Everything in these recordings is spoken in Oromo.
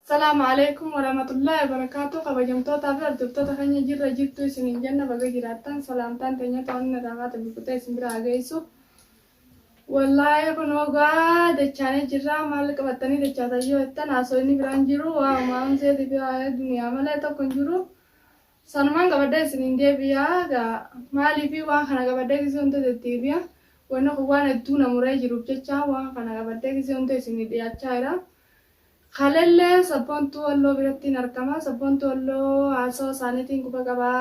Salaam Aleeykum Waramatullahi Wabarakatu Kabajamtoota fi Hordoftoota keenya jirra jirtu isiniin jenna baga jiraattan salaamtaan teenya to'anni irraa kaate bukutee isin bira haa geessu Wallahi kunoo gaa dachaanee jirra maal qabattanii dachaatan yoo jettan haasoyni biraan jiru waa umaan seetii fi waa'ee duniyaa malee tokko hin jiru sanumaan qabadhee isiniin deebi'a gaa maalii fi waan kana qabadhee gisee hunda deddeebi'a wanni kun waan hedduu na muree jiruuf jecha waan kana qabadhee gisee hunda isinii dhiyaachaa jira. Kalelle sabboontuu Walloo birattiin argama. Sabboontuu Walloo haasawa isaaniitiin quba qaba.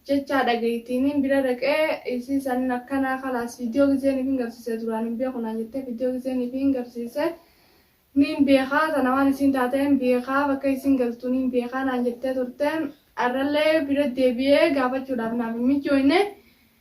Jechaa dhageettiiniin bira dhaqee isii saniin akkanaa kalaas viidiyoo gizeen ifiin garsiise duraan hin beeku naan jettee viidiyoo gizeen ifiin garsiise niin beeka tana waan isiin taateen beeka bakka isiin galtu niin beeka naan jettee turte har'allee bira deebi'ee gaafachuudhaaf naaf hin mijjooyne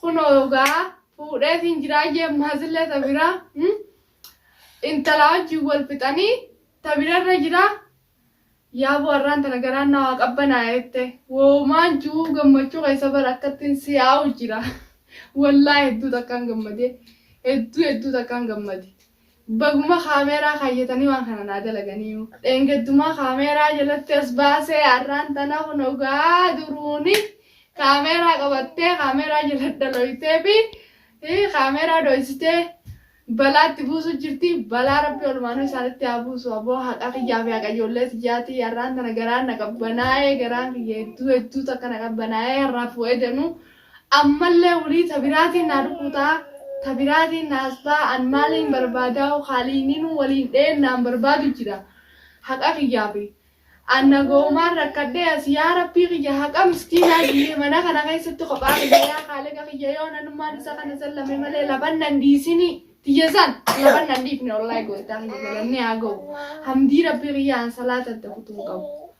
Kunoo egaa fuudheefiin jiraa jee ammaasille ta biraa intalaa wajjin wal fixanii ta birarra jiraa. Yaaboo har'aan tana garaan na waa qabbanaa'e jette. Woomaan ji'uu gammachuu keessa bara akkattiin si'aa'u jira. Wallaahi hedduu takkaan gammadee. Hedduu hedduu takkaan gammade. Baguma kaameeraa kaayyatanii waan kana naa dalaganiiyu. Dheengaddumaa kaameeraa jalatti as baasee har'aan tana kunoo gaa duruuni kaameeraa qabattee kaameeraa jala dhalooyteefi kaameeraa dhooysitee balaatti buusu jirti. Balaa rabbi olumaanuu isaanitti haa buusu aboo haqa kiyyaa fi haqa ijoollee tiyyaati har'aan tana garaan na qabbanaa'ee garaan kiyya hedduu hedduu takka na qabbanaa'ee har'aaf wa'ee danuu Ammallee wly ta biraatiin naa rukutaa ta biraatiin na hastaa an maaliin barbaadaau kaaliininuu waliin dheennaan barbaadu jira haqa kiyyaafi an nagaumaan rakkadhee as yaa rabbii kiyya haqa miskiinaa kiyya mana kana keessatti kophaa kiyya yaa kaaliqa kiyya yoo nanummaan isa kana sallame malee laban nan dhiisinii tiyya san laban nan dhiifne wly gooftaa kiyya galanni haa gau hamdii rabbii kiyya an salaata itti kutuun qabu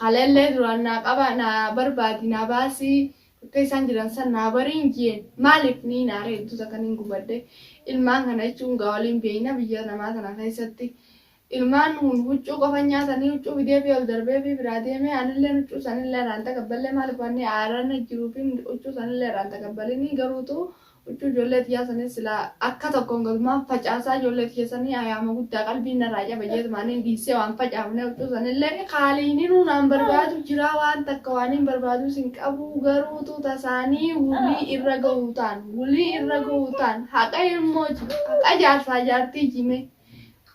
Kaleellee duraan naa qabaa naa barbaadi naa baasii bakka isaan jiran san naa bariin jeen maaliif niin aaree utuu takka niin gubadhe ilmaan kana jechuun gaa waliin beeyna biyya namaa tana keessatti ilmaan kun huccuu qofan nyaatanii huccuu fideefii ol darbeefii biraa deemee anilleen huccuu sanillee irraan takabballee maaliif wanni aarana jiruufiin huccuu sanillee irraan takabbalinii garuutu Huccuu ijoollee tiyyaa saniin silaa akka tokkoon gasumaan facaasaa ijoollee tiyya sanii ayaama guddaa qalbiin narraa cabe jeetuma aniin dhiissee waan facaafnee huccuu sanillee kaaliininuu naan barbaadu jiraa waan takka waaniin barbaadus hin qabuu garuu utuu tasaanii wulii irra gahuutaan wulii irra gahuutaan haqa ilmooji haqa jaarsaa jaartiiji mee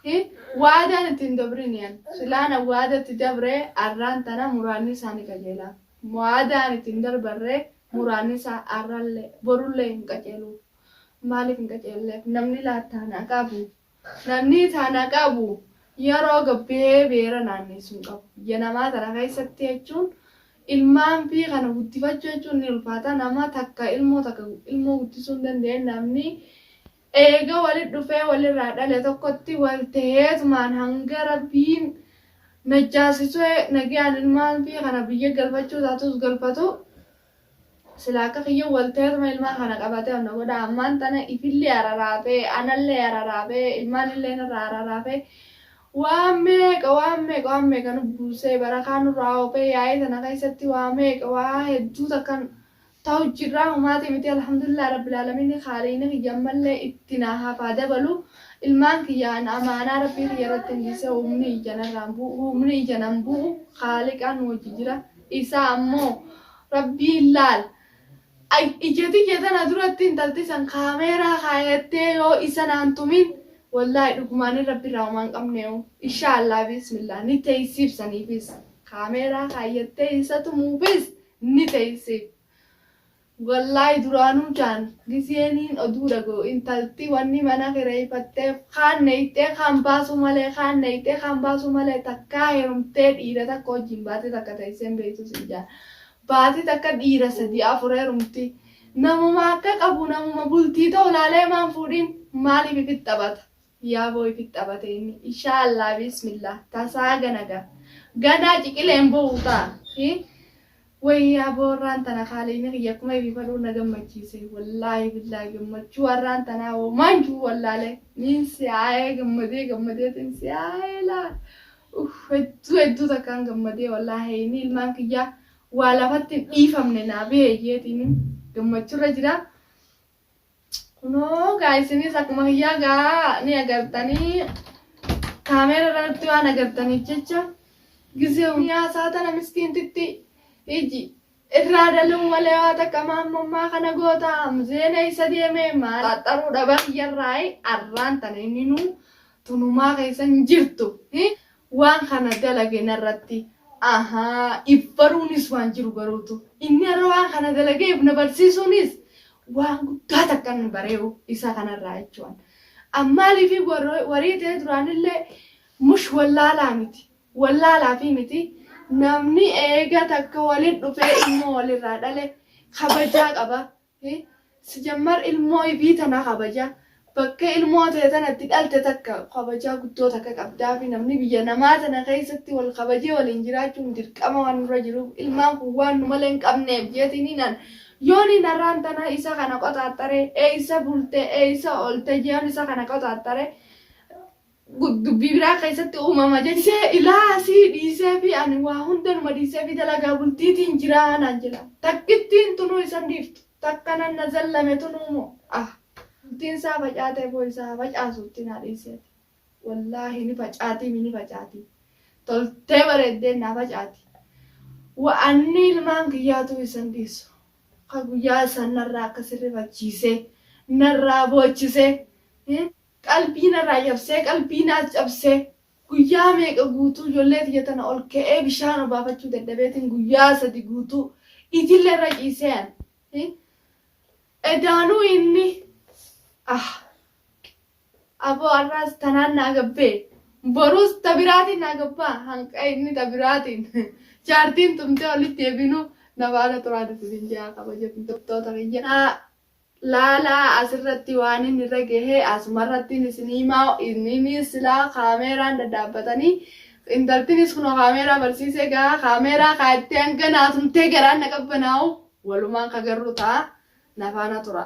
hi waadaan itti hin dabrini an silaan an waada itti dabree arraan tana muraanni isaanii qajeelaa waadaan itti hin darbarree Muraanni isaa arrallee, borullee hin qaceelu. Maaliif hin qaceelleef? Namni laattaana qabu, namni tana qabu yeroo gabbee beera naanneessu hin qabu. Biyya namaa tana keessatti jechuun ilmaan fi kana guddifachuu jechuun ni ulfaata. Nama takka ilmoo takka ilmoo guddisuu hin dandeenye namni Eega wali dhufee walirraa dhale tokkotti wal taheetumaan hanga Rabbiin najjaasisee nagayaan ilmaan fii kana biyya galfachuu taatus galfatu silaa akka kiyya wal taheetuma ilmaan kana qabatee onna godha ammaan tana ifillee araraafee anallee araraafee ilmaanillee narraa araraafee waan meeqa waan meeqa waan meeqa nu buusee barakaa nurraa oofee yaa'ii tana keessatti waa meeqa waa hedduu takkan Tahu jirraa humaati miti alhamdulillah rabbil alamiini khaaliini kiyya ammallee itti naa hafaa dabalu ilmaan kiyya an amaanaa rabbii kiyya irrattin dhiise humni ija narraan bu'u humni ija nan bu'u khaaliqaan nu wajji jira isaa ammoo rabbiin laal ija tiyya tana duratti intalti san kaameeraa kaayattee yoo isa naan tumin wallaahi dhugumaanin rabbi irraa homaa hin qabneehu inshaa allah biismillah ni teeysiif saniifis kaameeraa kaayattee isa tumuufis ni teysee wallaahi duraanuu jaan gizee niin oduu dhaga'u intalti wanni mana kireyfatteef kaan neyxee kaan baasuu malee kaan neyxee kaan baasuu malee takkaa herumtee dhiira takka wajjiin baatii takka teysee hin beytuu siin jaan baatii takka dhiira sadii afur herumtii namuma akka qabu namuma bultii ta'u laalee maan fuudhiin maaliif ifit taphata Yaaboo ifit xabate inni. Ishaa Allah biismillaah tasaa gana ga ganaa ciqileen bu'u ta, i wayii yaaboo arraan tana kaaleyni kiyya akkuma irifadhuu na gammachiise wallaahi billaahi gammachuu arraan tanaa homaa hin jiru wallaale niin si aayee gammadee gammadeetin si aayee laa uff hedduu hedduu takkaan gammadee wallaahi heeyni ilmaan kiyyaa waa lafatti hin dhiifamne naa beeyyeetiin gammachurra jira Kunoo gaa isinis akkuma kiyyaa gaa ni agartanii kaameera irratti waan agartaniif jecha gisee hunyaa saatana miskiintitti iji irraa daluun malee waa takka maammummaa kana goota zeena isa deemee maal xaxxaruu dhaba kiyyarraayi arraan tana inni nuu tun humaa keessa hin jirtu hi waan kana dalage narratti ahaa if baruunis waan jiru baruutu inni har'a waan kana dalagee if na barsiisuunis waan guddaa takka inni baree'u isa kanarraa jechuun ammaaliifi warra- warii ta'ee duraanillee mush wallaalaa miti wallaalaafii miti namni eega takka walin dhufee ilmoo walirraa dhale kabajaa qaba Hii sijammar ilmoo ifii tana kabaja bakka ilmoo tee tana itti dhalte takka kabajaa guddoo takka qabdaafi namni biyya namaa tana keessatti wal kabajee waliin jiraachuun dirqama waan nurra jiruuf ilmaan kun waan nu malee hin qabneef jeetiiniin an yooniin har'aan tana isa kana qoxaaxxaree eessa bulte eessa oolte jeeun isa kana qoxaaxxaree dubbii biraa keessatti uumama jennee ilaa sii dhiisee fi ani waa hundanuma dhiisee fi dalagaa bultiitiin jiraa naan jedha takkittiin tunuu isan dhiiftu takka nan na zallame tunuu moo ah bultiin isaa facaatee boo isaa facaasuutti naa dhiiseeti wallaahi ni facaatii mi ni facaatii toltee bareeddeen naa facaati wa'anni ilmaan kiyyaatuu isan dhiisu ka guyyaa isan narraa akka sirrifachiisee narraa boochisee Qalbii narraa cabsee qalbii naas cabsee guyyaa meeqa guutuu ijoollee tiyya tana ol ka'ee bishaan obaafachuu dadhabeetiin guyyaa sadi guutuu ijille irra ciisee an hi edaanuu inni ah aboo arraas tanaan naa gabbee boruus ta biraatiin naa gabbaa hanqa inni ta biraatiin jaartiin tumtee olitti deebinuu na baala turaa dubbiin jaa kabajamtottoota kiyya Laalaa asirratti waanin irra gahe asumarrattin isin himaa inninis silaa kaameeraan dadhaabbatanii intaltinis kunoo kaameeraa barsiisee gaa kaameeraa kaayattee hanga naa tumtee garaan na qabbanaa'u walumaan ka garru ta'a na faana tura.